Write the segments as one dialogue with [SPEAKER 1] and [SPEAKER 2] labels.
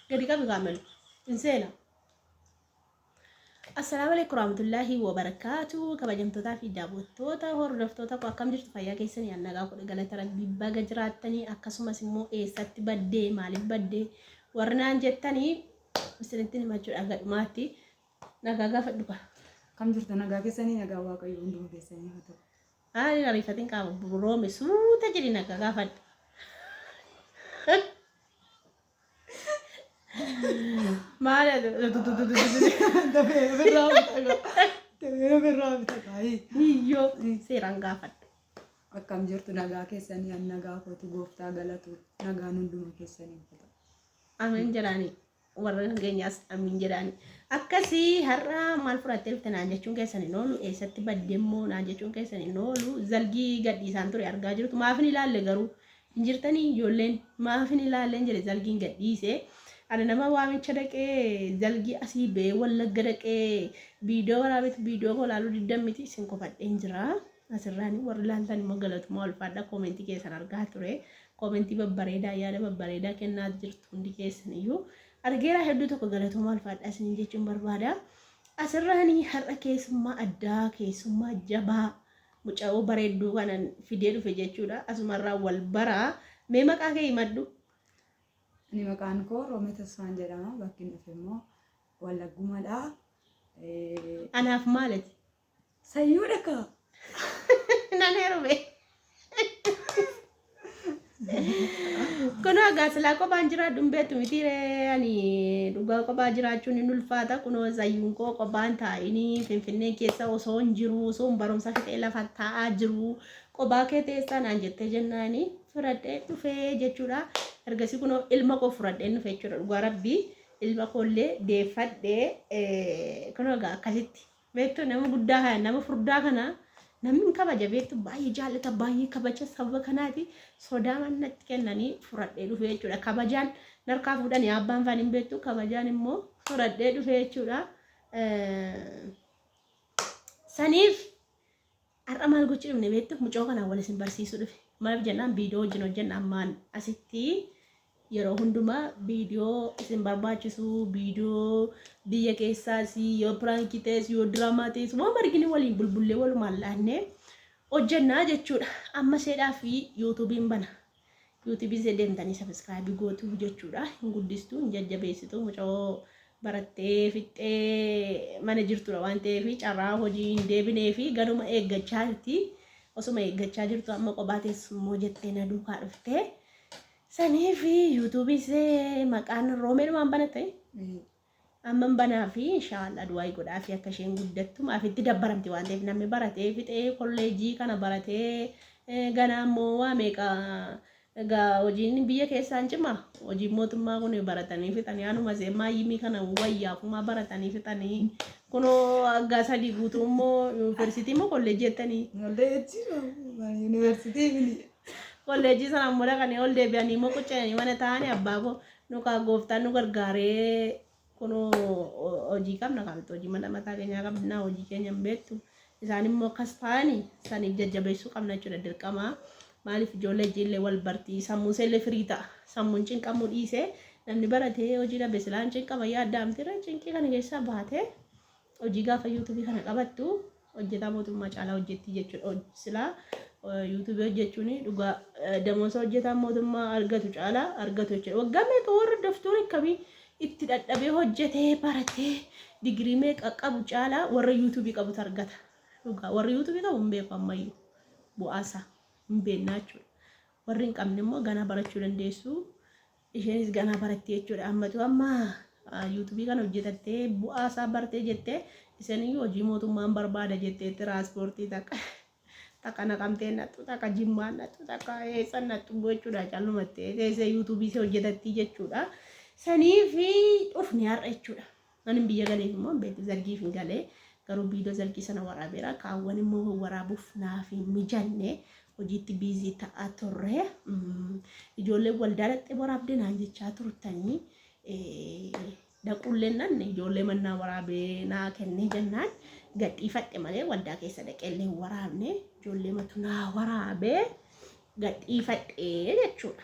[SPEAKER 1] Gadi qabi kaamelu. Hin seena. Assalaamu alaikum warahmatullaahi wabarakaatu kabajamtootaa fi daawwattoota hordoftoota koo akkam jirtu fayyaa keessanii an nagaa godhe galata rabbii baga jiraattanii akkasumas immoo eessatti baddee maaliif baddee warri naan jettanii isinittiin himachuudhaaf gadhumaatti nagaa gaafadhu kaa. Akkam jirtu nagaa
[SPEAKER 2] keessanii nagaa waaqayyo hunduma keessanii haa ta'u. Ayi hin ariifatin
[SPEAKER 1] qaama roome suuta jedhi naga gaafadhu. Maal hiyyoo seeraan gaafadhu. Akkam jirtu
[SPEAKER 2] nagaa keessanii an nagaa kootu gooftaa galatu nagaan hunduma keessanii uffata. Ameen jedhaani.
[SPEAKER 1] warra keenyaas amiin jedhaani. Akkasii har'a maal fudhattee dhufte naan jechuun keessan hin oolu eessatti badde immoo naan jechuun keessan hin oolu zalgii gadhiisaan ture argaa jirtu maaf hin ilaalle garuu hin jirtanii ijoolleen maaf hin ilaalleen jedhe zalgiin gadhiise. Ani nama waamicha dhaqee zalgii asii ba'ee wallagga dhaqee viidiyoo waraabetu viidiyoo koo ilaaluu diddan miti isin kofadheen jira. Asirraan warri laaltan immoo galatuma ulfaadha koomentii keessan argaa ture. Koomentii babbareedaa yaada babbareedaa kennaa jirtu hundi keessan iyyuu argeeraa hedduu tokko galatuma ulfaadha isiniin jechuun barbaada. Asirraan har'a keessummaa addaa keessummaa jabaa muca'oo bareedduu kanan fidee dhufe jechuudha. Asumarraa wal baraa mee maqaa kee himadhu.
[SPEAKER 2] Ani maqaan koo Roomee Tasfaan jedhama. Bakki nuti immoo Wallaggumadha.
[SPEAKER 1] Anaaf maalati? Sayyuu
[SPEAKER 2] dhakaa.
[SPEAKER 1] Nan heerume. Kunoo egaa silaa kophaan jiraadhu hin beektu miti ree ani dhugaa kophaa jiraachuun hin ulfaata kunoo zayyuun koo kophaan taa'inii finfinnee keessa osoo hin jiru osoo hin barumsa fixee lafa taa'aa jiru kophaa kee teessaa naan jettee jennaani fudhadhee dhufee jechuudha ergasii kunoo ilma koo fudhadhee dhufe jechuudha dhugaa rabbii ilma koollee deeffadhee eh, kunoo egaa akkasitti Beektu nama guddaa kana nama furdaa kana namni hin kabaja beektu baay'ee jaallata baay'ee kabaja sababa kanaati sodaa mannatti kennanii fudhadhee dhufee jechuudha kabajaan narkaa fuudhanii abbaan faan hin beektu kabajaan immoo fudhadhee dhufee jechuudha. Eh, Saniif Har'a maal gochuu dhufne beektu mucoo kanaan wal isin barsiisuu dhufe. Maaf jennaan viidiyoo wajjin hojjenna ammaan asitti yeroo hundumaa viidiyoo isin barbaachisu viidiyoo biyya keessaas yoo piraankii ta'es yoo diraamaa ta'es waan argine waliin bulbullee walumaan laannee hojjennaa jechuudha. Amma seedhaa fi yuutuubiin bana. Yuutubii see deemtanii sabiskiraabii gootuu jechuudha. Hin guddistuu, hin jajjabeessituu mucoo barattee fixxee mana jirtudha waan ta'eef carraa hojii hin deebinee fi ganuma eeggachaa jirti. Osuma eeggachaa jirtu amma qophaa teessummoo jettee na duukaa dhuftee. Sanii fi yuutubii see maqaan roomeedhumaan banatte Amman banaafi inshaallah du'aayi godhaafi akka isheen guddattu maaf itti dabbaramti waan ta'eef namni baratee fixee kolleejjii kana baratee ganaa immoo waa meeqa egaa hojiin biyya keessaan cima hojiin mootummaa kun baratanii fixanii anuma see maayyimii kana wayyaa kumaa baratanii fixanii kunoo aggaa sadii guutuu immoo yuunivarsiitii immoo kolleejjii jettanii yuunivarsiitii
[SPEAKER 2] kolleejjii sana
[SPEAKER 1] immoo dhaqanii ol deebi'anii immoo qucca'anii mana taa'anii abbaa koo Nu kaa gooftaan nu gargaaree kunoo hojii qabna kaa nuti hojii mana mataa keenyaa qabna hojii keenya hin beektu isaan immoo akkas ta'ani saniif jajjabeessuu qabna jechuudha dirqama maaliif ijoollee ijiillee wal bartii sammuu seellee firii ta'a sammuun cinqamuu dhiisee namni baratee hojii dhabe silaan cinqama yaaddaamtira cinqii kana keessaa baatee hojii gaafa yuutubii kana qabattu Hojjetaa mootummaa caalaa hojjettii jechuudha hoj- silaa eh, yuutuubii hojjechuun dhugaa eh, damoosa hojjetaan mootummaa argatu caalaa argatu jechuudha waggaa meeqa warra doftoora akkamii itti dhadhabee hojjetee baratee digirii meeqa qabu caalaa warra yuutuubii qabutu argata dhugaa warri yuutuubii qabu hin beeku ammayyuu bu'aasaa hin beeknaa jechuudha warri hin qabne immoo ganaa barachuu dandeessu Isheenis ganaa baratti jechuudha. Ammatu amma yuutubii kana hojjetattee bu'aa isaa bartee jettee isaniyyuu hojii mootummaan barbaada jettee tiraaspoortii takka takka naqamtee nattu takka jimmaa nattu takka eessa nattu gochuudha callumattee teessee yuutubii si hojjetattii jechuudha. Saniif dhufne har'a jechuudha. Anin biyya galee immoo hin beeku zargiif hin galee garuu viidoo zargii sana waraabeera kaawwan immoo waraabuuf naaf hin mijanne hojiitti biizii ta'a turre ijoollee waldaa dhaqxee waraabde naan jechaa turtanii dhaquullee nan ijoollee mannaa waraabee naa kennee jennaan gadhiifadhe malee waldaa keessa dhaqeellee hin waraabne ijoollee matu naa waraabee gadhiifadhe jechuudha.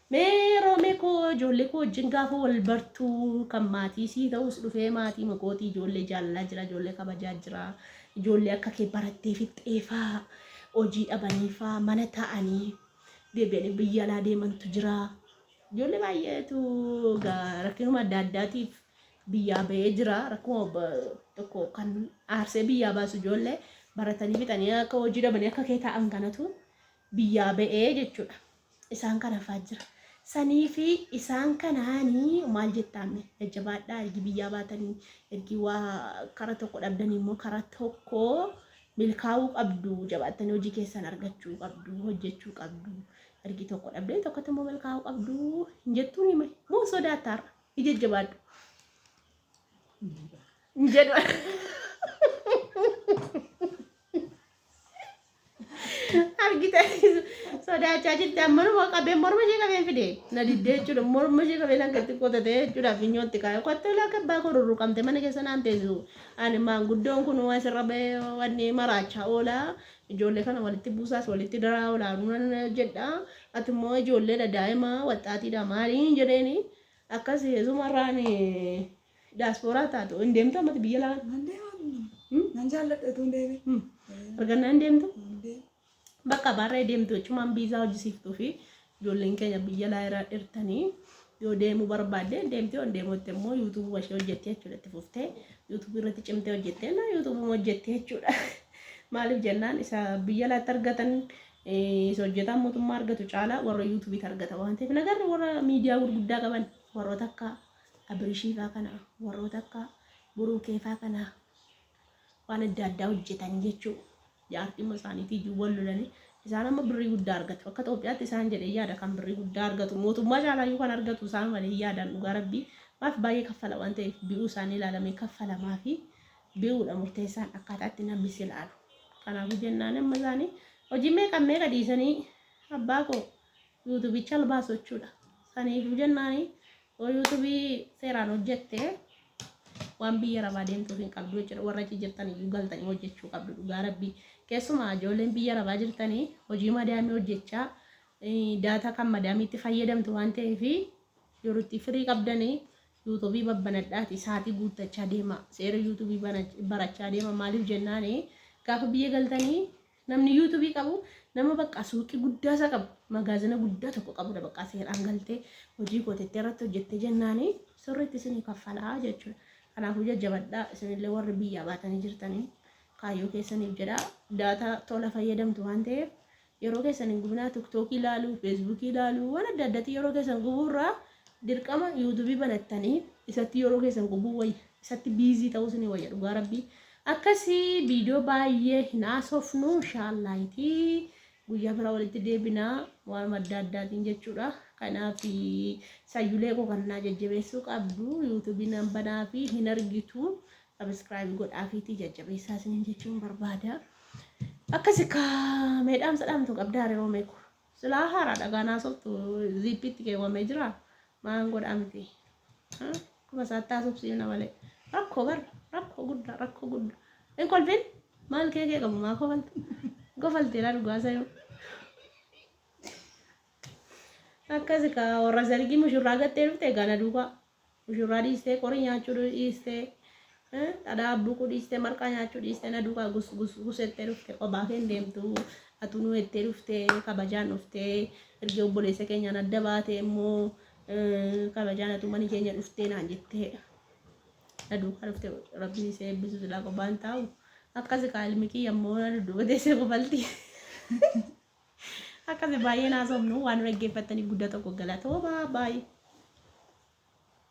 [SPEAKER 1] Mee Roomee koo ijoollee koo wajjin gaafa wal bartu kan maatii sii ta'us dhufee maatii makooti ijoollee jaalalaa jira ijoollee kabajaa jira ijoollee akka kee barattee fixxeefaa hojii dhabaniifaa mana ta'anii deebi'anii biyya alaa deemantu jira ijoollee baay'eetu rakkinuma adda addaatiif biyyaa ba'ee jira rakkuma tokko kan aarsee biyyaa baasu ijoollee baratanii fixanii akka hojii dhabanii akka kee ta'an kanatu biyyaa ba'e jechuudha. Isaan kana hafaa jira. Saniifi isaan kanaani maal jettaan mee jajjabaadhaa ergi biyyaa baatanii ergi waa kara tokko dhabdanii immoo kara tokko milkaa'uu qabdu jabaattanii hojii keessan argachuu qabdu hojjechuu qabdu ergi tokko dhabdee tokkotti immoo milkaa'uu qabdu hin jettuun hime moo sodaattaarra hin jajjabaadhu hin jedhu. argite sodaachaa jirti ammanuma qabee morma ishee qabeen fide na diddee jechuudha morma ishee qabeen akka itti qotatee jechuudha finyootti kaa'e qottee laaka abbaa koo rurruqamte mana keessa naan teessisu ani maanguddoon kun waan sirra ba'ee wanni maraachaa oolaa ijoollee kana walitti buusaas walitti daraa oolaa nunan jedha ati immoo ijoolleedha daa'ima waxxaatiidha maaliin jedheeni akkas heesumarraan Diyaaspooraa taatu hin deemtu ammatti biyya laa Nan deema.
[SPEAKER 2] Nan jaalladha utuu hin deemin. argannaa hin
[SPEAKER 1] deemtu. Hin deema. Bakka baarree deemtu jechumaan biizaa hojjisiiftuu fi ijoolleen keenya biyya laa irraa dhirtanii yoo deemuu barbaadde deemtee on deemuutti immoo yuutuubuma ishee hojjettee jechuudha itti fuftee yuutuubii irratti cimtee hojjettee na yuutuubuma hojjettee jechuudha. Maaliif jennaan isa biyya laatti argatan eh, isa hojjetaan mootummaa argatu caalaa warra yuutuubiitti argata waan ta'eef nagarri warra miidiyaa gurguddaa qaban warroota akka Abrishiifaa kana warroota akka Buruukeefaa kana waan adda addaa hojjetan jechuu jaartimma isaaniitii iyyuu wal lolanii isaan amma birrii guddaa argatu akka Itoophiyaatti isaan jedhee yaada kan birrii guddaa argatu mootummaa caalaayyuu kan argatu isaan malee yaadaan dhugaa rabbii maaf baay'ee kaffala waan ta'eef bi'uu isaanii ilaalamee kaffalamaa fi bi'uudha murteessaan akkaataatti namni si ilaalu kanaafuu jennaan amma isaanii hojii meeqa meeqa dhiisanii abbaa koo yuutubicha albaasochuudha saniifuu jennaanii Yoo YouTube seeraan hojjette waan biyya rabaa deemtuuf hin qabdu jechuudha. Warra achi jirtan iyyuu galtanii hojjechuu qabdu dhugaa rabbii. Keessumaa ijoolleen biyya rabaa jirtanii hojii madaamii hojjechaa eh, daataa kan madaamiitti fayyadamtu waan ta'eef yeroo itti firii qabdanii yuutuubii babbanadhaati saatii guuttachaa deema. Seera yuutuubii bana- barachaa deema. Maaliif jennaani gaafa biyya galtanii Namni YouTube qabu nama baqqaa suuqii guddaa isaa qabu magaazina guddaa tokko qabudha baqqaa seeraan galtee hojii kootettee irratti hojjette jennaani sirriitti isinii kaffalaa jechuudha. Kanaafuu jajjabadhaa isinillee warri biyyaa baatanii jirtanii kaayyoo keessaniif jedhaa daataa tola fayyadamtu waan ta'eef yeroo keessan hin gubinaa tiktookii ilaaluu feesbuukii ilaaluu waan adda addaatiin yeroo keessan gubuurraa dirqama yuutuubii banattanii isatti yeroo keessan gubuu wayya. isatti biizii ta'uu sini wayya dhugaa rabbii akkasi viidiyoo baay'ee hin haasofnu inshaallaahii guyyaa biraa walitti deebinaa waan adda addaatiin jechuudha kanaaf sayyulee koo kan naa jajjabeessuu qabdu yuutuubii nan banaa fi hin argitu sabiskiraayib godhaafiitii jajjabeessaa isiniin jechuun barbaada akkasi kaa meedhaamsa dhaamtu qabdaa hariiroo meeku Silaa haaraadha gaa naasoftu ziippiitti keewwamee jira maan godhaa miti. Akkuma isaatti haasofsiifna malee rakkoo bar rakkoo guddaa rakkoo guddaa. Hin kolfin maal kee kee qabu maa kofalta kofalteera dhugaa sayuu. Akkasi kaa warra sargii mushurraa gattee dhufte gana duukaa. Mushurraa dhiistee qorii nyaachuu dhiistee dhadhaa abbuuquu dhiistee marqaa nyaachuu dhiistee na duukaa gus gus gus jettee dhuftee qophaa kee hin deemtu atuu nu jettee dhuftee kabajaan dhuftee erga obboleessa keenyaan adda baatee immoo kabajaan atuu mana keenya dhuftee naan jettee na duukaa dhuftee rabbiin isee eebbisu silaa qophaa hin taa'u akkasi kaa ilmi kiyya immoo na dudduuba teessee kofaltii. Akkasi baay'een haasofnu waan nu dhaggeeffattaniif guddaa tokko galatooma. Bye.